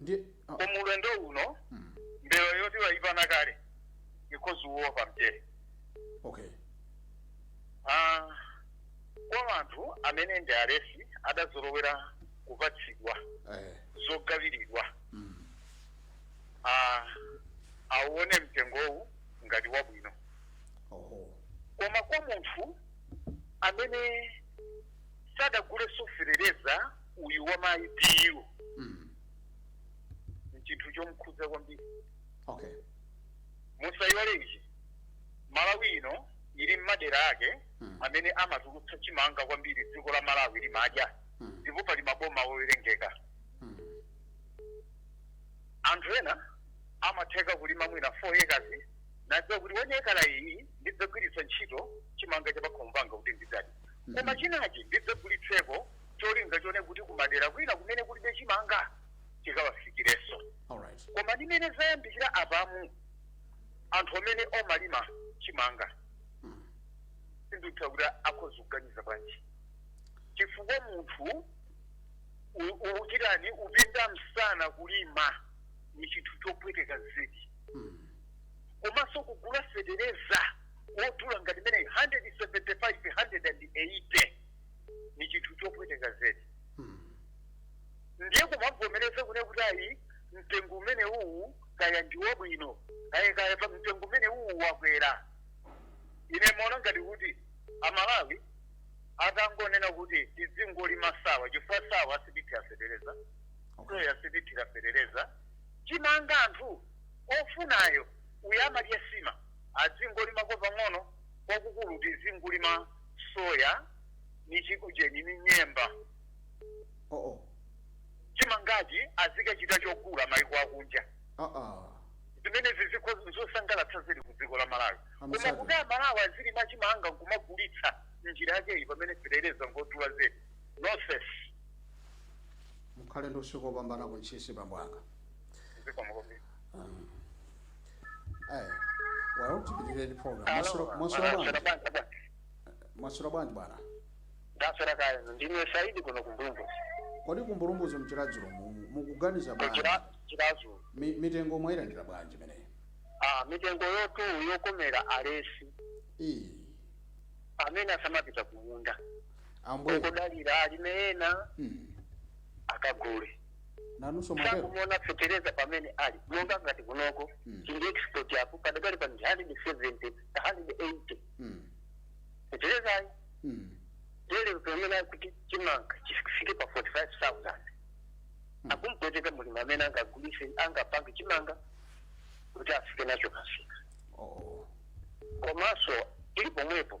ndi ah, koma ulendo uno mm, mbelo yoti wayipana kale ikozi uwo pamchere okay Ah, kwa anthu amene ndi alesi adazolowera kupatsidwa eh, zogawiridwa mm, ah, awuone mtengowu ngati wabwino oho koma kwa munthu amene sadagule fetereza uyu wa mayi DU Mm. ni chinthu chomkhudza kwambiri Okay. musayiwale ichi malawi ino ili ni madera ake Mm. amene amatulutsa chimanga kwambiri dziko la malawi limadya Mm. ndipo pali maboma owerengeka Mm. anthu ena amatheka kulima mwina 4 acres nadziwa kuti one acre iyi ndidzagwiritsa ntchito chimanga cha pakhomo panga kuti ndidzadye koma chinachi ndidzagulitseko cholinga choona kuti kumadera kwina kumene kulibe chimanga chikawafikirenso koma ndimene zayambikira apamu anthu amene omalima chimanga hmm. sindikutha kuti akhoza kuganiza bwanji chifukwa munthu ukuchita kupinda msana kulima ni chinthu chopweteka zedi hmm. komanso kugula fetereza wodula ngati mene 175 180 ni chinthu chopweteka zedi Mm. ndiye kumabvomereza kunena kuti ayi mtengo umene uwu kaya ndi wabwino kaya kaya pa mtengo umene uwu wakwera ine ndimaona ngati kuti amalawi atangonena kuti tidzingolima nsawa chifukwa nsawa sathira fetereza Okay. soya sathira fetereza chimanga anthu ofunayo oti amadya nsima adzingolimako pang'ono kwakukulu tizingolima soya ni chikujeni ni nyemba oh oh chimangachi azikachita chogula maiko akunja ah ah zimenezi zikho- zosangalatsa zili ku dziko la malawi koma Amusaka. kuti amalawi azilima chimanga nkumagulitsa njira yakeyi pamene fetereza ngodula zedi nonsenu mukhale ndi usiku wopambana kuntchisi bambo anga zikomakomera Aya. Well tipitire ndi program. Mwaswera mwaswera bwanji? Mwaswera bwanji bwana? ndaswera kaya ndine Saidi kuno ku Mbulumbuzi Kodi ku Mbulumbuzi m'Chiradzulu mu- mukuganiza bwanji? ku Chira- Chiradzulu Mi- Mitengo mwayilandira bwanji imeneyi? ah mitengoyotu yokomera alesi Eh. amene asamapita kumunda Ambuye. kudalira alime ena Mm. akagule nanunso mwatero sakumuona fetereza pamene ali monga ngati kunoko Mm. chili export apo padakali pano ndi 170 180 Mm, feterezayo mm, lero pamene akuti chimanga chifike pa 45000 Mm. akumpweteka mulimi amene angagulise angapange chimanga kuti afike nacho pamsika oh, komanso tili pomwepo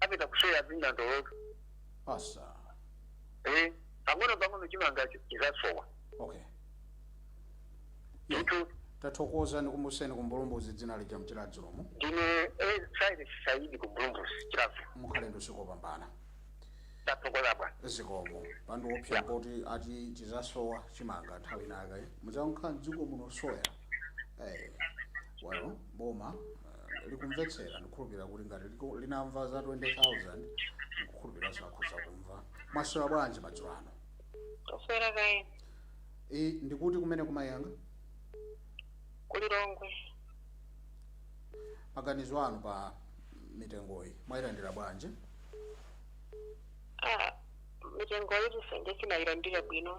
apita kusoya zinandolotu asa eh pang'ono pang'ono chimanga chi- chizasowa okay ndithu tathokoza tikumbutseni ku Mbulumbuzi dzina lija m'Chiradzulomo ndine eh, Saidi Saidi ku Mbulumbuzi Chiradzulu mukhale ndi usiku wopambana tathokoza bwana zikomo pandiopsa poti ati chizasowa chimanga nthawi inayake mudzakhala mdziko muno soya Eh, well boma likumvetsera ndikukhulupirira kuti ngati liku- linamva za 20000 ndikukhulupiriranso akhoza kumva mwaswera bwanji madzulo ano Taswera kaya inu ndi kuti kumeneku mayi anga ku Lilongwe. maganizo anu pa mitengoyi mwayilandira bwanji Ah, mitengoyitu sanje sindinayilandire bwino.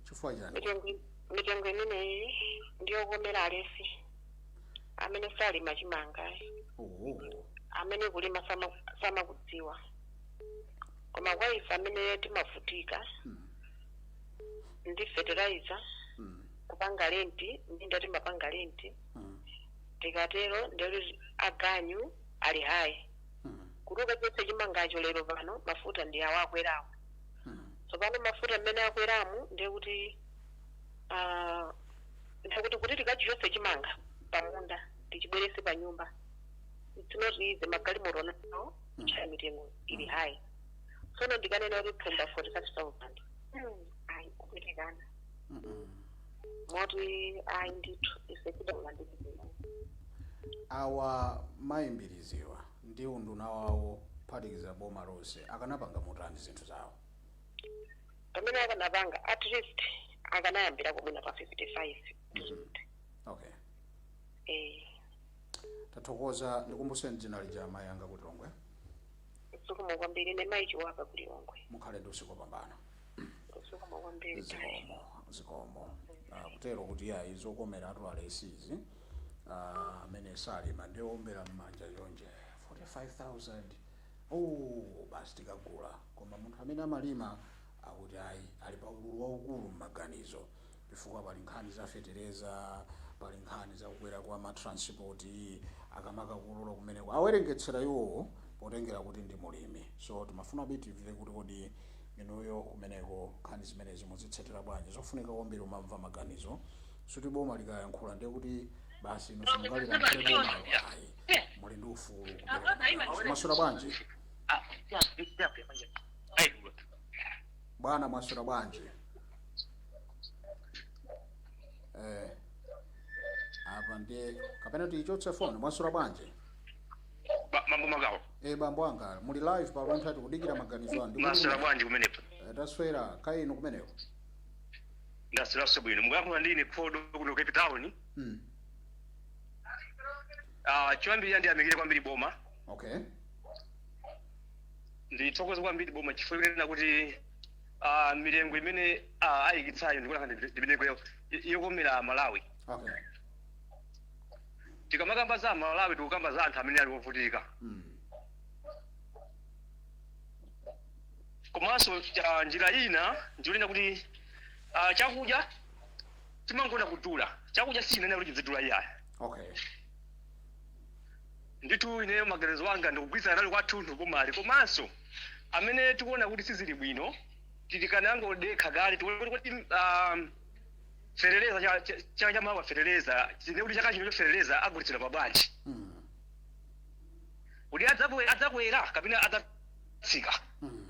chifukwa chani Mitengo mitengo imeneyi ndi yokomera alesi. amene salima chimanga oh. amene kulima sama- samakudziwa koma kwa ife amene timavutika Mm. ndi fertilizer Mm. kupanga lenti minda timapanga lenti Mm. tikatero ndiye aganyu ali high Mm. kuti ukachotse chimangacho lero pano mafuta ndi awo akwerawo Mm. tsopano mafuta mmene akweramu ndiye kuti ah, Ndiye kuti, kuti tikachichotse chimanga pamunda tichibweretse panyumba it's not easy. Magalimoto nawo kutchaja mitengo ili high. Tsono ndikanena kuti thumba 45,000 Hmm, ayi kupitikana moti ayi ndithu ife kudala ndi zinthu. awa mayi Mbiliziwa ndi unduna wawo kuphatikiza boma lonse akanapanga motani zinthu zawo pamene akanapanga at least akanayambirako mwina pa 55 percent okay eh tathokoza ndikumbuseni dzina lija amayi anga ku lilongwe zikomo kwambiri ndi mayi chiwaka ku lilongwe mukhale ndi usiku wabwino zikomo kwambiri zikomo zikomo Ah, kutero kuti yayi zokomera anthu aulesi amene salima ndi oombera mmanja chonje 45000 Ooo basi tikagula koma munthu amene amalima akuti ayi ali pa ululu waukulu m'maganizo chifukwa pali nkhani za fetereza, pali nkhani za kukwera kwa ma transport akamakakolola kumeneko awerengetsera iwowo potengera kuti ndi mulimi so timafuna timve kuti kodi inuyo kumeneko nkhani zimenezi muzitsatira bwanji nzofunika kwambiri kumamva maganizo sikuti boma likayankhula ndiye kuti basi inu simungalilankhulire bomalo ayi. muli ndi ufulu mwaswera bwanji bwana mwaswera bwanji eh apa ndiye kapena tiyichotse foni mwaswera bwanji mambo magawo e bambo anga muli live pa luntha tikudikira maganizo anu mwaswera bwanji kumeneko Eh, taswera kaya inu kumeneko ndasweraso bwino mukuyankhula ndi ine khodo kuno cape town mm. Ah, choyambirira ndiyamikire kwambiri boma okay ndithokoze kwambiri boma chifukwa kunena kuti ah, mitengo imene ah, ayikitsayo ndikuona ndi ndi mitengo yo- yokomera amalawi okay tikamakamba za amalawi tikukamba za anthu amene ali ovutika mm. komanso ah, njira ina ndi yonena kuti ah, chakudya chimangoona kudula chakudya sichifunika kuti chidzidula iyayi okay ndithu ineyo maganizo anga ndikugwirizana nalo kwathunthu bomali komanso amene akuona kuti sizili bwino akanangodekha kaye tione kuti kuti um, fetereza cha- cha- chaka cha mawa fetereza tione kuti chaka chinocho fetereza agulitsidwa pa bwanji mm. kuti adzabwe- adzakwera kapena adzatsika mm.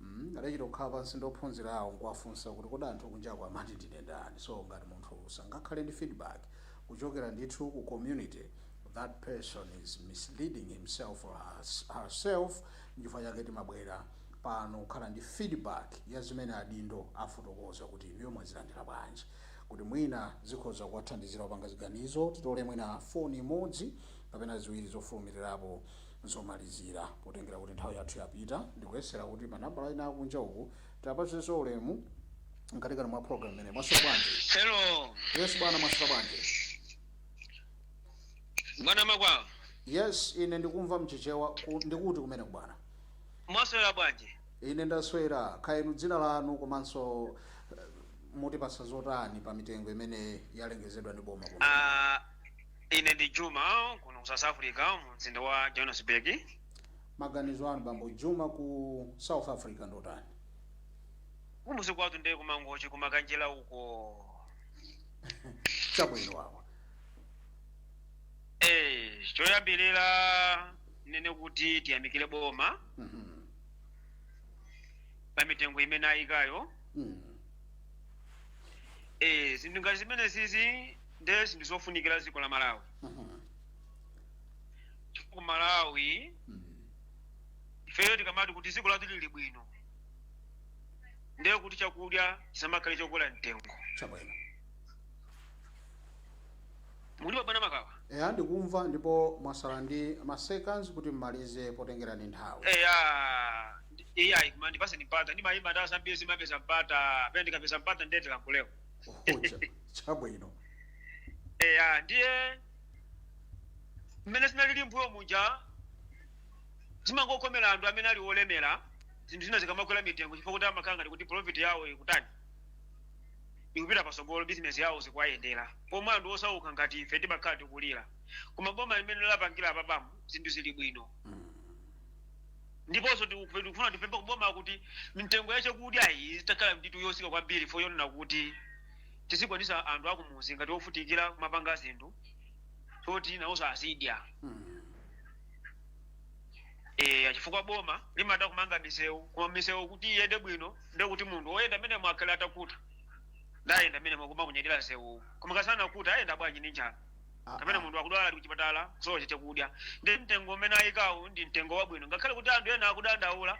mm adachita kukhala pansi ndi ophunzirawo nkuwafunsa kuti kodi anthu kunjaku amati ndine ndani so ngati munthu sangakhale ndi feedback kuchokera ndithu ku community that person is misleading himself or herself nchifukwa chake timabwera pano kukhala ndi feedback ya zimene adindo afotokoza kuti inuyo mwazilandira bwanji kuti mwina zikhoza kuwathandizira kupanga ziganizo titole mwina foni imodzi kapena ziwiri zofulumirirapo zomalizira. Potengera kuti nthawi yathu yapita, ndikuyesera kuti ma nambala ena akunja uku tiwapatsenso ulemu mkatikati mwa program imeneyi mwaswera bwanji Hello, yes bwana mwaswera bwanji bwana Makawa. yes ine ndikumva mchichewa ku- ndi Times kumene kubwana Mwaswera bwanji? ine ndaswera kaya inu dzina lanu komanso eh, mutipatsa zotani pa mitengo imene yalengezedwa ndi boma kuno Ah, ine ndi juma kuno ku south africa mu mzinda wa johannesburg maganizo anu bambo juma ku south africa ndotani kumudzi kwathu ndiye ku Mangochi ku Makanjira uko chabwino awa eh choyambirira ndinene kuti tiyamikire boma Mhm. pa mitengo imene ayikayo Mhm. eh zinthu ngati zimenezizi nde zinthu zofunikira mdziko la malawi Mhm. chifukwa ku malawi Mhm. ifeyo tikamati kuti dziko lathu lili bwino ndiye kuti chakudya chisamakhale chokwera mtengo chabwino mukutimva bwana Makawa eya ndikumva ndipo mwasala ndi maseconds kuti mmalize potengera ndi nthawi eya eya koma ndipaseni mpata ndimayimba nthawi zambiri simapeza mpata pena ndikapeza mpata nde tilankhuleko Oh, cha- chabwino eya ndiye mmene zinalili mbuyo muja zimangokomera anthu amene ali olemera zinthu zina zikamakwera mitengo chifukwa kuti amakhala ngati kuti profit yawo ikutani ikupita patsogolo bizinesi yawo zikuwayendera pomwe anthu osauka ngati ife timakhala tikulira koma boma mmene lapangira apapamu zinthu zili bwino Mm. ndiponso tiku- tikufuna tipemphe kuboma kuti mitengo ya chakudya iyi itakhala ndithu yotsika kwambiri fo yonena kuti tizikwanisa anthu akumudzi ngati ovutikira kumapanga zinthu zoti nawonso azidya Eh, chifukwa boma limatha kumanga misewu koma misewu kuti iyende bwino nde kuti munthu woyenda mmenemo akhale atakhuta nde ayenda mmenemo nkumaunyadira msewuwu koma kasana kuti ayenda bwanji ndi njala Ah, kapena ah. munthu akudwala ali kuchipatala kusowa chakudya ndi mtengo umene ayikawu ndi mtengo wabwino ngakhale kuti anthu ena akudandaula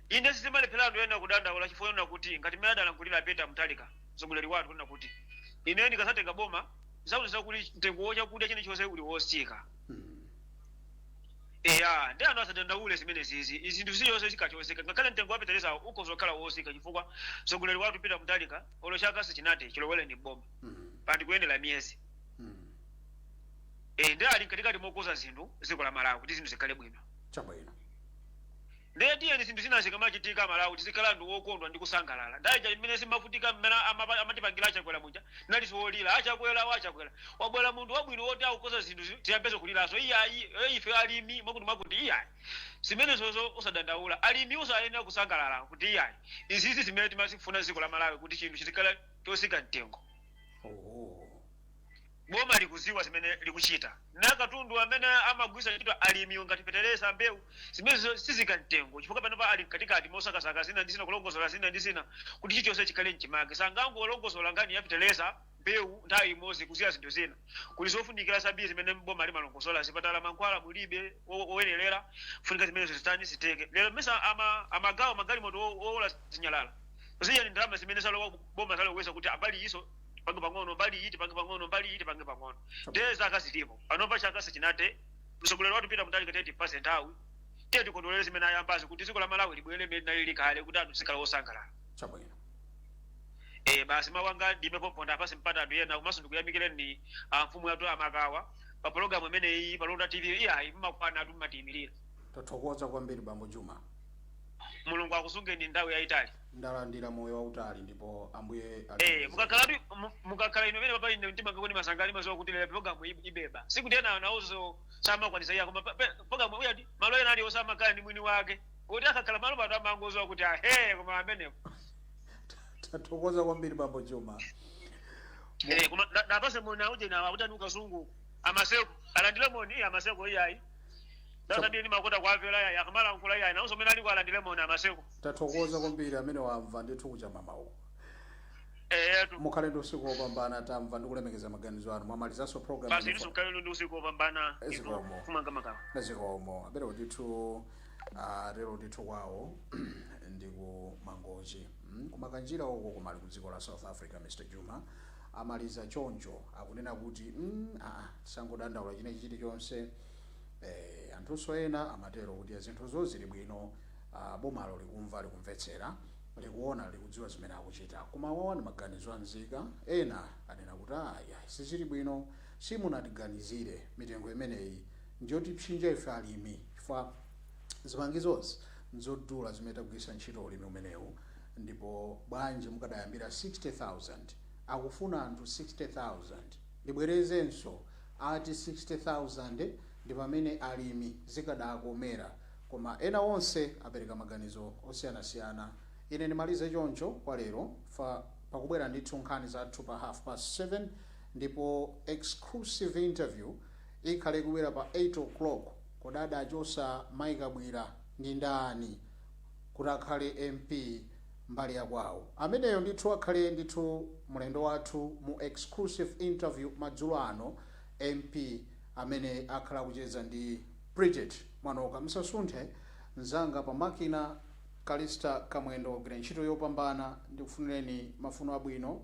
inde sizimalephera anthu ena kudandaula chifukwa chonena kuti ngati mmene adalankhulira peter mtalika mtsogoleri wathu kunena kuti ine ndikazatenga boma muzakhutitsidwa kuti mtengo wachakudya chilichonse uli wotsika Mm. eya nde anthu asadandaule zimenezizi zinthu zilizonse zikachoseka ngakhale mtengo wa fetereza ukhoza kukhala wotsika chifukwa mtsogoleri wathu peter mutharika olo chaka sichinathe chilowereni mboma Mm. pandi kuyendera miyezi mm. e, ndi ali mkatikati mokonza zinthu dziko la malawi kuti zinthu zikhale bwino chabwino ndiye tiyeni zinthu zina zikamachitika malawi tizikhala anthu wokondwa ndi kusangalala ndanija imene timavutika mmene amapa- amatipangira achakwera muja tinali timalira achakwera wachakwera wabwera munthu wabwino woti akukonza zinthu zi- tiyambezo kuliranso iyayi eh, ife alimi mwakuti mwakuti iyayi zimenezozo usadandaula alimi uzayenera kusangalala kuti iyayi izizi zimene timazifuna dziko la malawi kuti chinthu chizikhala chotsika mtengo Oho. boma likuziwa zimene likuchita na katundu amene amagwiritsa ntchito alimiwo ngati fetereza mbewu zimenezo zitsika mtengo chifukwa panopa ali mkatikati mosakasaka zina ndi zina kulongosola zina ndi zina kuti chilichonse chikhale mchimake sangangolongosola nkhani ya fetereza mbewu nthawi imodzi kusiya zinthu zina kuli zofunikira zambiri zimene boma limalongosola zipatala mankhwala mulibe o- oyenerera funika zimenezo zitani zitheke lero mesa ama- amagawa magalimoto o- owola zinyalala ziyani ndalama zimene zalowa ku- boma taloweza kuti mbali izo tipange pang'ono mbali iyi tipange pang'ono mbali iyi tipange pang'ono ndiye zaka zilipo panopa chaka sichinathe mtsogoleri wathu Peter Mutharika tiye timpatse nthawi tiye tikondwere zimene ayambazo kuti dziko la malawi libwere mmene linalili kale kuti anthu zikhala osangalala chabwino eh basi mawu anga ndi amenewo pompa ndapatse mpata anthu ena komanso ndikuyamikireni ah, mfumu yathu a Makawa pa pologalamu imeneyi pa londa tv iyayi mmakwana ndithu mmatiyimirira tathokoza kwambiri bambo juma mulungu akusungeni nthawi yayitali Ndalandira moyo wautali ndipo ambuye Eh, alemekezeke. mukakhala ndi mu- mukakhala inu pamenepapa ine mtima ngakondwa ndimasangalala ndimaziwa kuti lero program ib- ibeba. Sikuti ena nawonso samakwanisa iyayi koma pa- pa- program uya ndi malo ena alionse amakhala ndi mwini wake. Kuti akakhala malo pato amangoziwa kuti ahe koma amenepo. Tathokoza kwambiri bambo Juma. Eh, koma na- ndapatse moni uje na aku TNA Kasungu. Amaseko alandile moni iya amaseko iyayi. Sasa ndiye ni makota kwa vela ya kamala nkula iyayi. Nawonso mmene aliko alandile moni amaseko. Tathokoza kwambiri amene wamva ndithu kuchamama uku. Eyetu. Mukhale ndi usiku wopambana tamva ndikulemekeza maganizo anu. Mwamalizanso program Basi inu inu mukhale ndi usiku wopambana. Inu Zikomo. kumanga Makawa. Nazikomo. Abero ndithu ah, lero ndithu kwawo ndi ku Mangochi. Mm, Kumakanjira uko koma ali ku dziko la South Africa Mr. Juma. Amaliza choncho akunena kuti mm, ah, tisangodandaula chinachi chilichonse. Eh, anthunso ena amatero kuti zinthuzo zili bwino Aaa bomalo likumva likumvetsera likuona likudziwa zimene likuchita koma awawa ndi maganizo a anzathu ena akunena kuti aah yayi sizili bwino simunatiganizire mitengo imeneyi njotipsinja ife alimi chifukwa zipangizozi nzodula zimene tagwiritsa ntchito ulimi umenewu ndipo bwanji mukadayambira 60,000 akufuna anthu 60,000 ndibwerezenso ati 60,000 ndipamene alimi zikadakomera Koma ena onse apereka maganizo osiyanasiyana. Ine ndimalize choncho kwa lero. Pakubwera ndithu nkhani zathu pa half past 7 ndipo exclusive interview ikhale ikubwera pa 8 o'clock. Kodi adachosa Mai Kabwila ndi ndani kuti akhale MP mbali ya kwawo? Ameneyo ndithu akhale ndithu mulendo wathu mu exclusive interview madzulo ano MP amene akhala akucheza ndi. Bridget Mwanoka, Musasunthe mzanga pa makina, Callista Kamwendo wagwira ntchito yopambana, ndikufunireni mafuno abwino,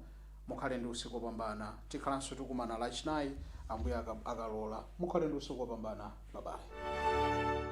mukhale ndi usiku opambana, tikhalanso tikumana lachinayi Ambuye akalola, mukhale ndi usiku opambana bye bye.